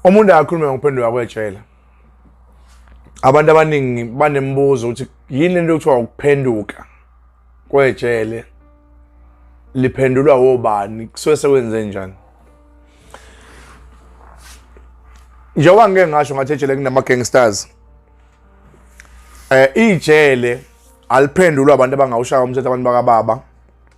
umuntu akakhulume ngokuphenduka kwejele abantu abaningi banembuzo ukuthi yini lento kuthiwa ukuphenduka kwejele liphendulwa wobani kusuke sekwenze njani njengoba ngike ngasho ngathi ejele kunama-gangsters um ijele aliphendulwa abantu abangawushaya umthetho abantu bakababa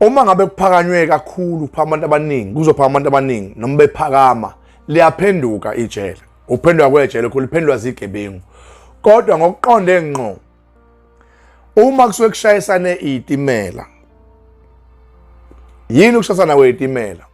uma ngabe kuphakanywe kakhulu phambi abantu abaningi kuzophaka abantu abaningi noma bephakama liyaphenduka ijele ukuphendwa kwejele khulu liphendwa zigebengu kodwa ngokuqonde ngqo uma kusuke kushayisane iyitimela yini ukushayisana kweyitimela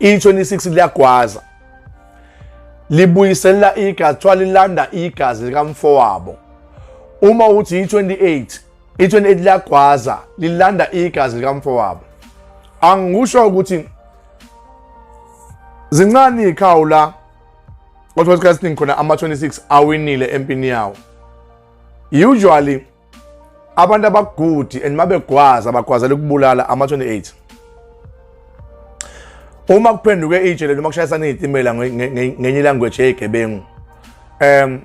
i-26 liyagwaza libuyiselela igazi kuthiwa lilanda igazi likamfowabo uma uthi i-28 i-28 liyagwaza lilanda igazi likamfowabo angikusho ukuthi zincane iy'khawu la kodwa isikhathi esiningi khona ama-26 awinile empini yawo usually abantu abagudi and mabegwaza bagwazela ukubulala ama-28 uma kuphenduke itshe lento uma kushayisana iy'timela ngenye ilanguage yeyigebengu um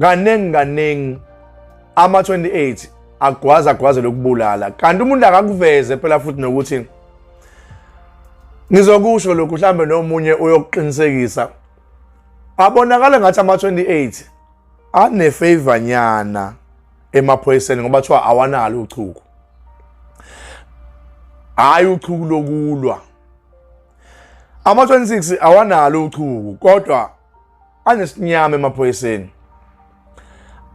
kaningi kaningi ama-28 agwaza agwaze lokubulala kanti umuntu akakuveze phela futhi nokuthi ngizokusho lokhu mhlambe nomunye uyokuqinisekisa abonakala ngathi ama-28 anefavor nyana emaphoyiseni ngoba kuthiwa awanalo uchuku hhayi uchuku lokulwa ama-26 awanalo uchuku kodwa anesinyama emaphoyiseni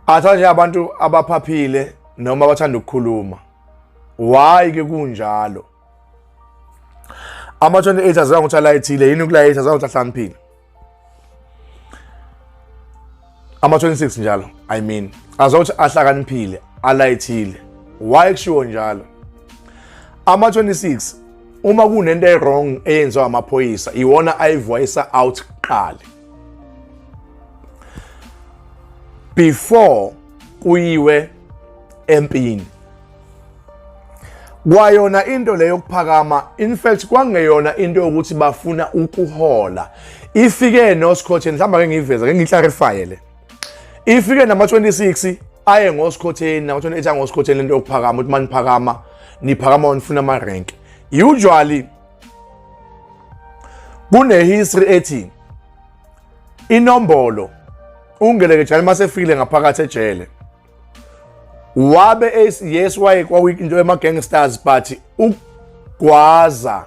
athanda nje abantu abaphaphile noma abathanda ukukhuluma why ke kunjalo ama-28 azange ukuthi alayithile yini ukulayitha azange ukuthi ahlaniphile ama-26 njalo i mean azange ukuthi ahlakaniphile alayithile why kushiwo njalo ama-26 uma kunento e-wrong eyenziwa amaphoyisa iwona ayivoyisa out kuqala before kuyiwe empini kwayona into leyo yokuphakama in fact kwangeyona into yokuthi bafuna ukuhola ifike nosikhotheni mhlawumbe ake ngiyiveza ke ngiclarifye le ifike nama-26 aye ngosikhotheni nama-28 angosikhotheni lento yokuphakama ukuthi maniphakama niphakama onifuna ama-rank usually kunehistory ethi inombolo ungelekejane uma sefikile ngaphakathi ejele wabe yes waye kwakuyinto yama-gangsters but ukugwaza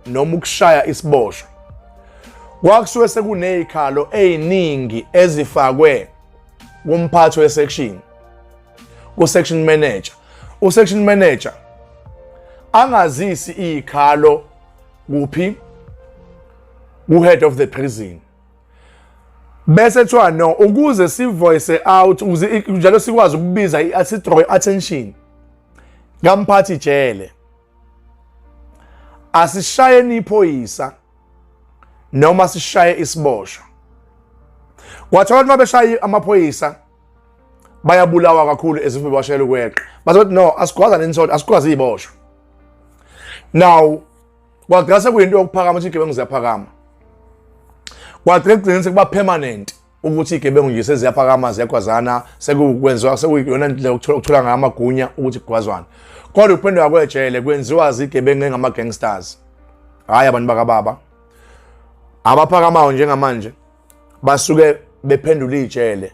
noma ukushaya isiboshwa kwakusuke sekunezikhalo eziningi ezifakwe kumphathi wesection ku-section manager u-section manager angazisi izikhalo kuphi ku-head of the prison bese kuthiwa no ukuze sivoice out ukuze njalo sikwazi ukubiza i-athidrow i-attention kamphathi jele asishayeni iphoyisa noma sishaye isiboshwa kwathiwa abantu mabeshaya amaphoyisa bayabulawa kakhulu ezife bashayela ukweqa bazothi no asigwaza nensolo asigwazi iboshwa now kwagcina sekuyinto yokuphakama ukuthi igebengu ziyaphakama kwagcina kugcina sekuba permanent ukuthi igebengu nje seziyaphakama ziyagwazana sekukwenziwa sekuyiyona ndlela ukuthola ngayo amagunya ukuthi kugwazwane kodwa ukuphenduka kwejele kwenziwa zigebengu engama-gangsters hhayi abantu bakababa abaphakamayo njengamanje basuke bephendula iy'tshele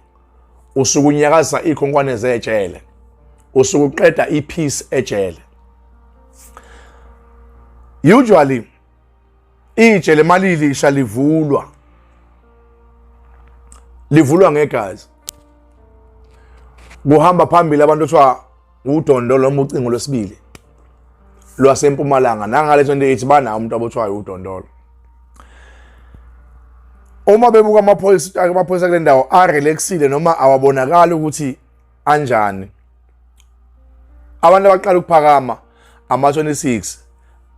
usuke unyakaza iy'khonkwane zey'tshele usuke uqeda i-peace ejele usually ijele malilisha livulwa livulwa ngegazi kuhamba phambili abantu kuthiwa Udondo loma ucingo lwesibili lwasempumalanga nangale 28 banawo umuntu abothwayo udondolo uma bebuka amaphoyisa amaphoyisa kule ndawo arelaxile noma awabonakali ukuthi anjani abantu abaqala ukuphakama ama-26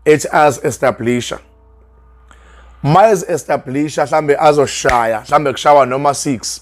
ethi azi-establisha uma ezi-establisha mhlawumbe azoshaya mhlawumbe kushawa noma 6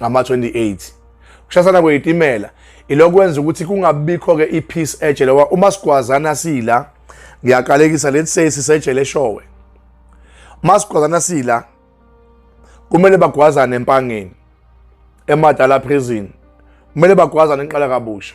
ngama-28 kushasana kweyitimela ilokwenza ukuthi kungabikho-ke i-peace ejele uma sigwazana sila ngiyaqalekisa let's say sisejele eshowe uma sigwazana sila kumele bagwazane empangeni emadala prison kumele bagwazane enqala kabusha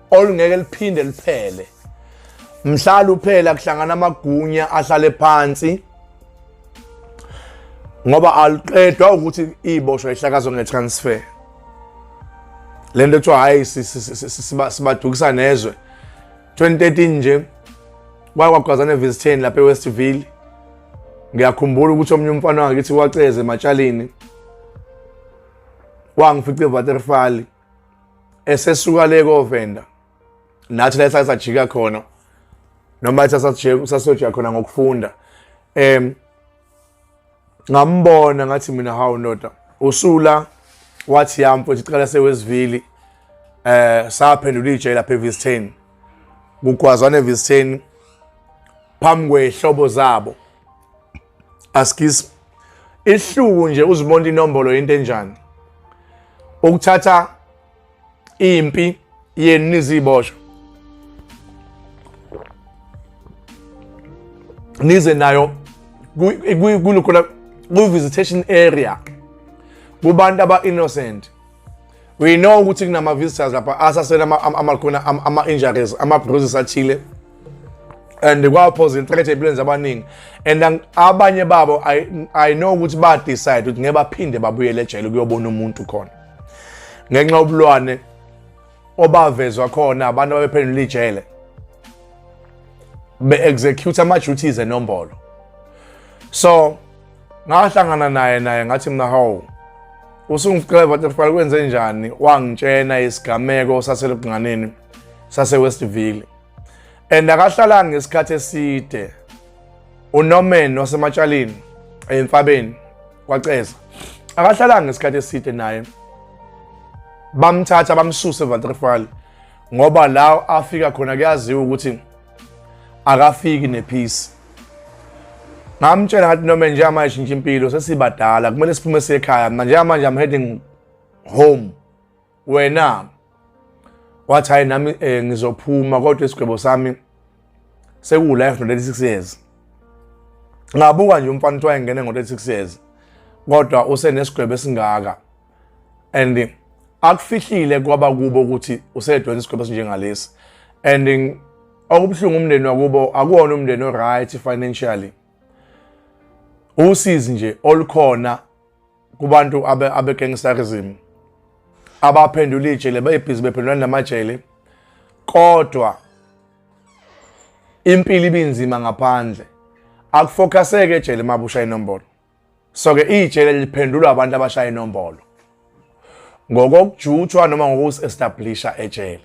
olungeke liphinde liphele mhla luphela kuhlangana amagunya ahlale phansi ngoba aliqedwa ukuthi iboshwa ihlakazwe ngetransfer le nto kuthiwa hhayi sibadukisa nezwe 2013 nje kwakwagwazana evisitheni lapha ewestville ngiyakhumbula ukuthi omunye umfana wangakithi waceze ematshalini wangifica evaterfali esesuka le kovenda nathi la sasajika khona noma sasojika khona ngokufunda um ngambona ngathi mina hawu ndoda usula wathi yami futhi cela sewesivili eh saphendula ijele lapha eVistain kugwazwana eVistain phambi kwehlobo zabo askis ihluku nje uzibona inombolo into enjani ukuthatha impi yenu nizibosho nize nayo kulukho la ku-visitation area kubantu aba-innocent we know ukuthi kunama-visitors lapha asasele amakhona ama-injuries ama-bruises athile and kwawaphosa inhlekethi ey'mpilweni zabaningi and abanye babo i know ukuthi ba-decide ukuthi ngeke baphinde babuyele ejele ukuyobona umuntu khona ngenxa yobulwane obavezwa khona abantu ababephendula ijele be-execute ama-duties enombolo so ngahlangana naye naye ngathi mina hawu usungifikela butterfly kwenze njani wangitshena isigameko saselubunganeni sasewestville and akahlalanga ngesikhathi eside unorman wasematshalini emfabeni kwaceza akahlalanga ngesikhathi eside naye bamthatha bamsuse evaterfal ngoba la afika khona kuyaziwa ukuthi akafiki nephisi ngamtshela ngathi noma njengamanje shintsha impilo sesibadala kumele siphume siye ekhaya mna njengamanje i'm heading home wena wathi hayi nami um ngizophuma kodwa isigwebo sami sekuwu-life no-36 years ngabuka nje umfana kuthiwa engene ngo-36 years kodwa usenesigwebo esingaka and akufihlile kwaba kubo ukuthi usedonsa isigwebo esinjengalesi and okubuhlungu umndeni wakubo akuwona umndeni o-right financially usizi nje olukhona kubantu abegangsterism abaphendula ijele bayibhizi bephendulani namajele kodwa impilo ibinzima ngaphandle akufokaseke ejele mabusha inombolo So-ke ijele liphendulwa abantu abashaya inombolo ngokokujutshwa noma ngokusi-establisha ejele.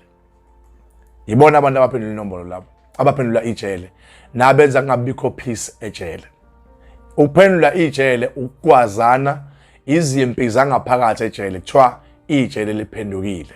Yibona abantu abaphendula inombolo labo, abaphendula ijele nabenza kungabikho peace ejele. Ukuphendula ijele ukwazana izimpi zangaphakathi ejele kuthiwa ijele liphendukile.